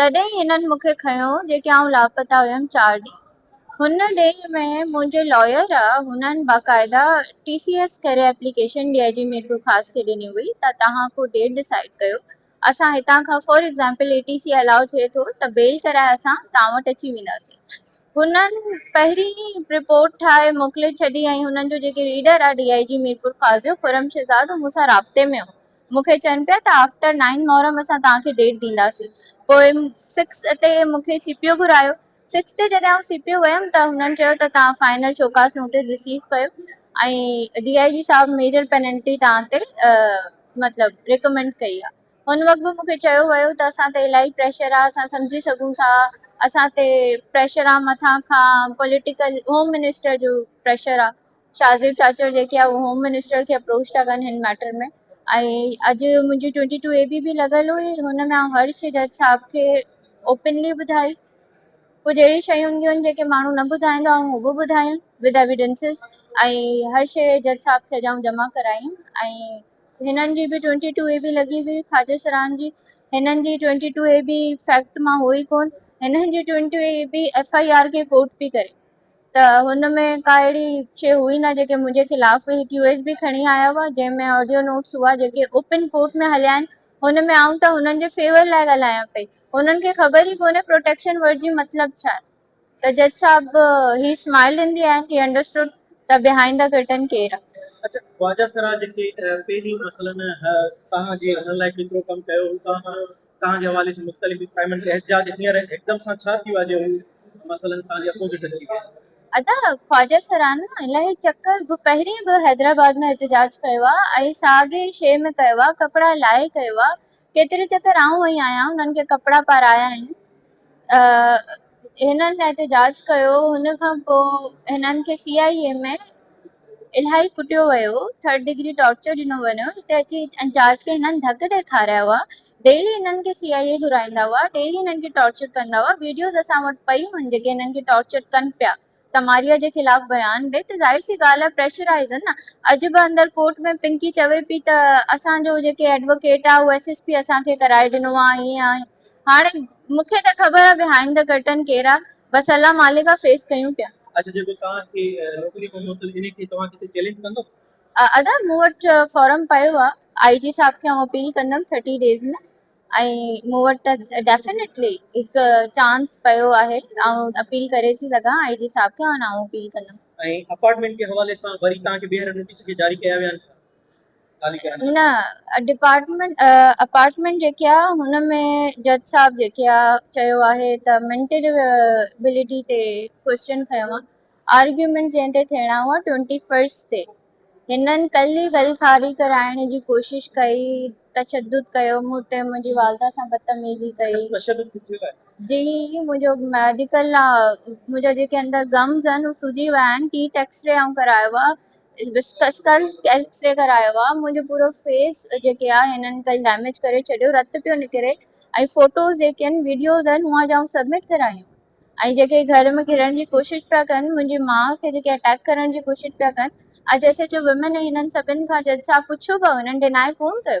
تڏهن هنن مون کي کنيو جيڪي آئون لاپتا هيم چار ڏينهن هن ڏينهن ۾ منهنجي لائر هنن باقاعده ٽي سي ايس ڪري application D I G Mirpur Khas کي ڏني هئي ته توهان ڪو ڊيٽ ڊسائيڊ ڪيو اسان هتان کان for example A T C الاء ٿئي ٿو ته بيل ڪرائي اسان توهان وٽ اچي وينداسين هنن پهرين ئي رپورٽ ٺاهي موڪلي ڇڏي ۽ هنن جو جيڪي ريڊر آهي ڊي آء جي ميرپور خاصجو خرم شهزاد هو مون سان رابطي ۾ هو مون کي چين پيا ته آفٽر نائين محرم اسان توهان کي ڊيٽ ڏينداسين پوء سڪس تي مون کي سي پي او گهرايو سڪس تي جڏهن آئون سي پي او ويم ته هنن چيو ته توهان فائنل شوڪاس نوٽيس رسيو ڪيو ۽ ڊي آء جي صاحب ميجر پينلٽي توهان تي مطلب ريڪمينڊ ڪئي آهي ان وقت به مون کي چيو ويو ته اسان تي الاهي پريشر آ اسان سمجهي سگهون ٿا اسان تي پريشر آ مٿان کان پوليٽيڪل هوم منسٽر جو پريشر آ شاهزيب چاچڙ جيڪي آ اهي هوم منسٽر کي اپروچ ٿا ڪن هن ميٽر ۾ ۽ اڄ منهنجي ٽوئنٽي ٽو اي بي به لڳل هئي هن ۾ آئون هر شي جج صاحب کي اوپنلي ٻڌائي ڪجهه اهڙيون شيون هونديون آهن جيڪي ماڻهو نه ٻڌائيندا آئون هو به ٻڌايون ود ايويڊنسز ۽ هر شي جج صاحب کي اڄ آئون جمع ڪرايون ۽ هنن جي به ٽوئنٽي ٽو اي بي لڳي هئي خواجه سرهاند جي هنن جي twenty two A B fact مان هو ئي ڪون هنن جي twenty two A B F I R کي ڪوٽ پي ڪري ته هن ۾ ڪا اهڙي شي هئي نه جيڪي منهنجي خلاف هئي هڪ يو ايس بي کڻي آيا هئا جنهن ۾ آڊيو نوٽس هئا جيڪي اوپن ڪورٽ ۾ هليا آهن هن ۾ آئون ته هنن جي فيور لاء ڳالهايان پئي هنن کي خبر ئي ڪونهي پروٽيڪشن ورڊ جي مطلب ڇا آهي ته جج صاحب he smile in the end he understood ته بيهائينڊ ته ڪرٽن ڪير آ. اڇا خواجه سراج جيڪي پهرين مثلا توهان جي انهن لاء ڪيترو ڪم ڪيو هو توهان سان توهان جي حوالي سان مختلف به ٽائمن تي احتجاج هينئر هڪدم سان ڇا ٿيو آ جو هو مثلا توهان جي اپوزٽ اچي ويا. ادا خواجه سران الهي چڪر به پهرين به حيدرآباد ۾ احتجاج ڪيو آ ۽ ساڳي شي ۾ ڪيو آ ڪپڙا لاهي ڪيو آ ڪيتري چڪر آئون وئي آهيان انهن کي ڪپڙا پارايا آهن. هنن احتجاج ڪيو هن کان پوء هنن کي سي آء اي ۾ الاهي ڪٽيو ويو ٿرڊ ڊگري ٽارچر ڏنو وڃو هتي اچي انچارج کي هنن ڌڪ ڏئي کارايا هئا ڊيلي هنن کي سي آء اي گهرائيندا هئا ڊيلي هنن کي ٽارچر ڪندا هئا ويڊيوز اسان وٽ پئيون آهن جيڪي هنن کي ٽارچر ڪن پيا تماريا جي خلاف بيان ڏي ته ظاهر سي ڳالهه آهي پريشرائيزن نه اڄ به اندر ڪورٽ ۾ پنڪي چوي پئي ته اسان جو جيڪي ايڊووڪيٽ آهي اهو ايس ايس پي اسان کي ڪرائي ڏنو آهي ائين آهي هاڻي مون کي ته خبر آهي بهائنڊ دي ڪرٽن ڪير آهي بس الله مالڪ آهي فيس ڪيون پيا. اچ جيڪو توهان کي نوڪري کان معطل انهي کي توهان ڪٿي چئلينج ڪندو. ادا مون وٽ فارم پيو آهي آئي جي صاحب کي آئون اپيل ڪندم ٿرٽي ڊيز ۾. ۽ مون وٽ ته ڊيفنيٽلي هڪ چانس پيو آهي آئون اپيل ڪري ٿي سگهان آء جي صاحب کي ۽ آئون اپيل ڪندم. ۽ اپارٽمينٽ جي حوالي سان وري توهان کي ٻيهر نوٽيس ڪي جاري ڪيا ويا آهن ڇا خالي ڪرڻ جا؟ نه ڊپارٽمينٽ اپارٽمينٽ جيڪي آ هن ۾ جج صاحب جيڪي آ چيو آهي ته مينٽل ابيلٽي تي ڪويسچن کنيو آ آرگيومينٽ جنهن تي ٿيڻا هئا ٽوئنٽي فرسٽ تي هنن ڪلهه ئي غل خاري ڪرائڻ جي ڪوشش ڪئي، تشدد ڪيو، مون تي منهنجي والده سان بدتميزي ڪئي. تشدد ڪٿي لاء؟ جي منهنجو ميڊيڪل آ، منهنجا جيڪي اندر گمز آهن اهي سجي ويا آهن، ٽيٿ ايڪس ري آئون ڪرايو آ، اسڪل ايڪس ري ڪرايو آ، منهنجو پورو فيس جيڪي آ هنن ڪلهه ڊيميج ڪري ڇڏيو، رت پيو نڪري ۽ فوٽوز جيڪي آهن، وڊيوز آهن اوهان جا آئون سبمٽ ڪرايون. ۽ جيڪي گهر ۾ گهڙڻ جي ڪوشش پيا ڪن، منهنجي ماء کي جيڪي اٽيڪ ڪرڻ جي ڪوشش پيا ڪن، اڄ ايس ايڇ او ويمن ۽ هنن سڀن کان جج صاحب پڇيو به هنن ڊيناء ڪونه ڪيو.